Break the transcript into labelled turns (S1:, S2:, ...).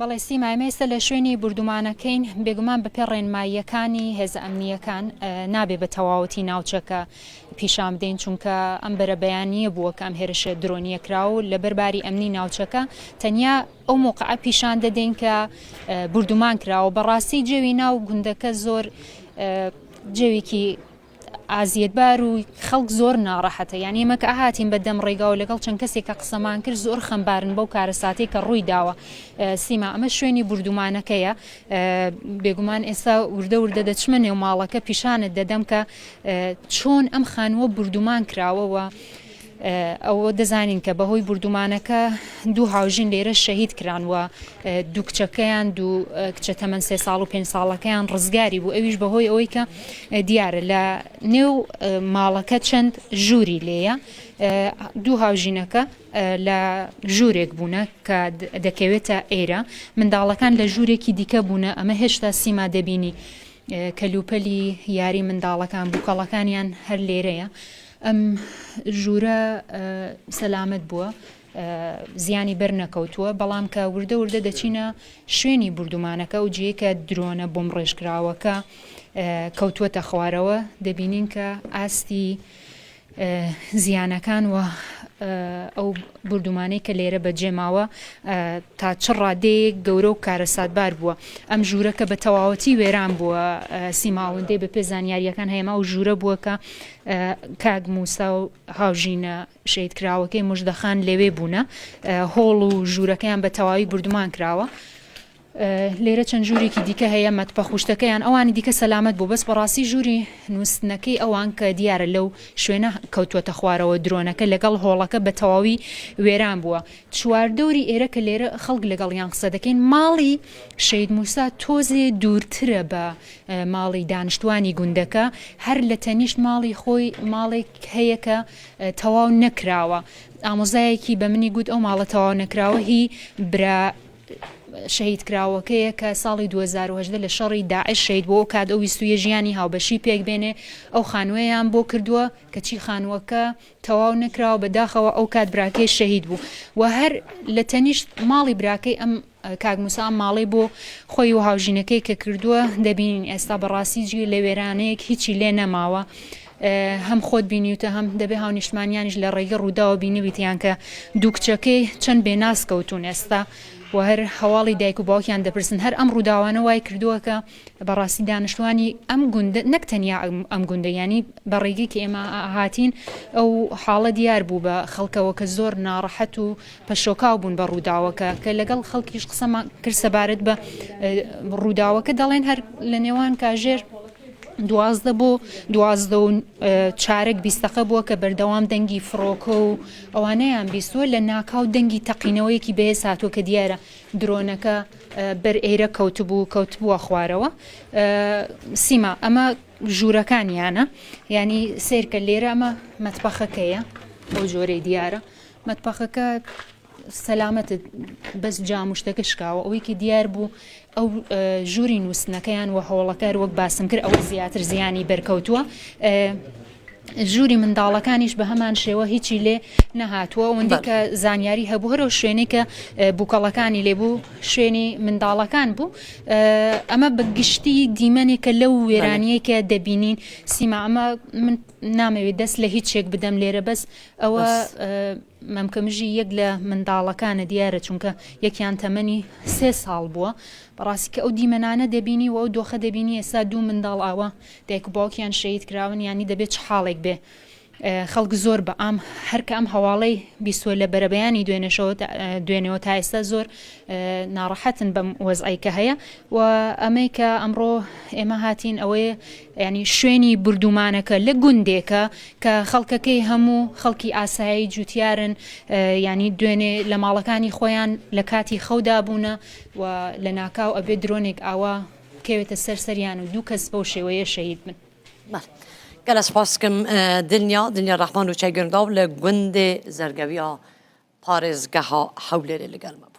S1: بەڵێ سیما، ئێمە ئێستا لە شوێنی بوردومانەکەین، بێگومان بەپێ ڕێنماییەکانی هێزە ئەمنییەکان نابێ بە تەواوەتی ناوچەکە پیشان بدەین، چونکە ئەم بەرە بەیانییە بووە کە ئەم هێرشە درۆنیە کراو و لەبەر باری ئەمنی ناوچەکە تەنیا ئەو موقعە پیشان دەدەین کە بوردومان کراوە بەڕاستی جێوی ناو گوندەکە زۆر جێویکی ئازیەتبار و خەڵک زۆر ناڕەحەتە یان ئێمە کە هاتین بە دەم ڕێگاو لەگەڵ چەند کەسێک کە قسەمان کرد زۆر خەمبارن بەو کارەساتەی کە ڕووی داوە سیما ئەمە شوێنی بردومانەکەیە بێگومان ئێستا وردە وردە دەچمە نێو ماڵەکە پیشانت دەدەم کە چۆن ئەم خانووە بردومان کراوەوە. ئەوە دەزانین کە بەهۆی بوردومانەکە دوو هاوژین لێرە شەهید کران و دوو کچەکەیان دوو کچە تەمەن سێ ساڵ و پێنج ساڵەکەیان ڕزگاری بوو ئەویش بەهۆی ئەوەی کە دیارە لە نێو ماڵەکە چەند ژووری لێیە دوو هاوژینەکە لە ژوورێک بوونە کە دەکەوێتە ئێرە منداڵەکان لە ژوورێکی دیکە بوونە ئەمە هێشتا سیما دەبینی کەلوپەلی یاری منداڵەکان بووکەڵەکانیان هەر لێرەیە ئەم ژوورە سەلامەت بووە زیانی بەر نەکەوتووە، بەڵام کە وردە وردە دەچینە شوێنی بوردومانەکە ئەو جێی کە درۆنە بۆمب ڕێژکراوەکە کەوتووەتە خوارەوە دەبینین کە ئاستی زیانەکان و ئەو بردومانەی کە لێرە بەجێماوە تا چ ڕادەیەک گەورە و کارەساتبار بووە ئەم ژوورەکە بە تەواوەتی وێران بووە سیماوەندەی بە پێ زانیاریەکان هەیەما و ژوورە بووە کە کاک موسا و هاوژینە شەهیدکراوەکەی مژدە خان لەوێ بوونە، هۆڵ و ژوورەکەیان بە تەواوی بوردومان کراوە. لێرە چەند ژوورێکی دیکە هەیە مەتبەخ و شتەکەیان ئەوانی دیکە سەلامەت بوو بەس بەڕاستی ژووری نووستنەکەی ئەوان کە دیارە لەو شوێنە کەوتووەتە خوارەوە درۆنەکە لەگەڵ هۆڵەکە بە تەواوی وێران بووە چواردەوری ئێرە کە لێرە خەڵک لەگەڵیان قسە دەکەین ماڵی شەید موسا تۆزێ دوورترە بە ماڵی دانشتوانی گوندەکە هەر لە تەنیشت ماڵی خۆی ماڵێک هەیە کە تەواو نەکراوە ئامۆزایەکی بە منی گوت ئەو ماڵە تەواو نەکراوە هی برا شەهید کراوەکەیە کە ساڵی 2010 لە شەڕی داعش شەید بۆ کات ئەو ویستویە ژیانی هاوبەشی پێک بێنێ ئەو خانووەیان بۆ کردووە کەچی خانووەکە تەواو نەکراوە بەداخەوە ئەوکات براکەی شەهید بوو و هەر لە تەنیشت ماڵی براکەی ئەم کاک موسا ئەم ماڵەی بۆ خۆی و هاوژینەکەی کە کردووە دەبینین ئێستا بەڕاستی جگە لە وێرانەیەک هیچی لێ نەماوە هەم خۆت بینیوتە هەم دەبێ هاونیشتمانیانیش لە ڕێگە ڕووداوە بینیویتیان کە دوو کچەکەی چەند بێناس کەوتون ئێستا و هەر هەواڵی دایک و باوکیان دەپرسن هەر ئەم ڕووداوانە وای کردووە کە بەڕاستی دانشتوانی ئەم گوندە نەک تەنیا ئەم گوندە یانی بە ڕێگەی کە ئێمە هاتین ئەو حاڵە دیار بوو بە خەڵکەوە کە زۆر ناڕەحەت و پەشۆکاو بوون بە ڕووداوەکە کە لەگەڵ خەڵکیش قسەمان کرد سەبارەت بە ڕووداوەکە دەڵێن هەر لە نێوان کاژێر دوازدە بۆ دوازدە و چارەک بیستەقە بووە کە بەردەوام دەنگی فڕۆکە و ئەوانەیان بیستوە لە ناکاو دەنگی تەقینەوەیەکی بەهێز هاتووە کە دیارە درۆنەکە بەر ئێرە کەوتبوو کەوتبووە خوارەوە سیما ئەمە ژوورەکانیانە ینی سیرکە لێرە ئەمە مەتبەخەکەیە بۆ جۆرەی دیارە مەتبەخەکە سەلامەتت بەس جامشتەکە شکاوە ئەوەیکی دیار بوو ئەو ژووری نووسنەکەیان و هەوڵەکار وەک باسم کرد ئەوە زیاتر زیانی بەرکەوتووە ژووری منداڵەکانیش بە هەمان شێوە هیچی لێ نەهاتووە وندی کە زانیاری هەبوو هەرو شوێنی کە بووکەڵەکانی لێبوو شوێنی منداڵەکان بوو ئەمە بە گشتی دیمەنێکە لەو وێرانیە کە دەبینین سیما ئەمە من نامەوێت دەست لە هیچێک بدەم لێرە بەس ئەوە مەمکەمژی یەک لە منداڵەکانە دیارە چونکە یەکیان تەمەنی سێ ساڵ بووە بەڕاستی کە ئەو دیمەنانە دەبینی و ئەو دۆخە دەبینی ئێستا دوو منداڵ ئاوە دایک و باوکیان شەهید کراون یانی دەبێ چ حاڵێک بێ خەڵک زۆر بە ئام هەر کە ئەم هەواڵەی بیسوە لە بەرەبەیانی دوێنێشەوە دوێنێەوە تا ئێستا زۆر ناڕەحەتن بەم وەزعی کە هەیە و ئەمەی کە ئەمڕۆ ئێمە هاتین ئەوەیە ینی شوێنی بردومانەکە لە گوندێکە کە خەڵکەکەی هەموو خەڵکی ئاسایی جوتیارن ینی دوێنێ لە ماڵەکانی خۆیان لە کاتی خەودا بوونە و لە ناکاو ئەبێ درۆنێک ئاوا بکەوێتە سەر سەریان و دوو کەس بەو شێوەیە شەهید بن. بەڵێ گەلە
S2: سوپاسکم دلنیا دلنیا ڕەحمان و چای گرنگاو لە گوندێ زەرگەویا پارێزگەها هەولێرێ لەگەلمە بوو.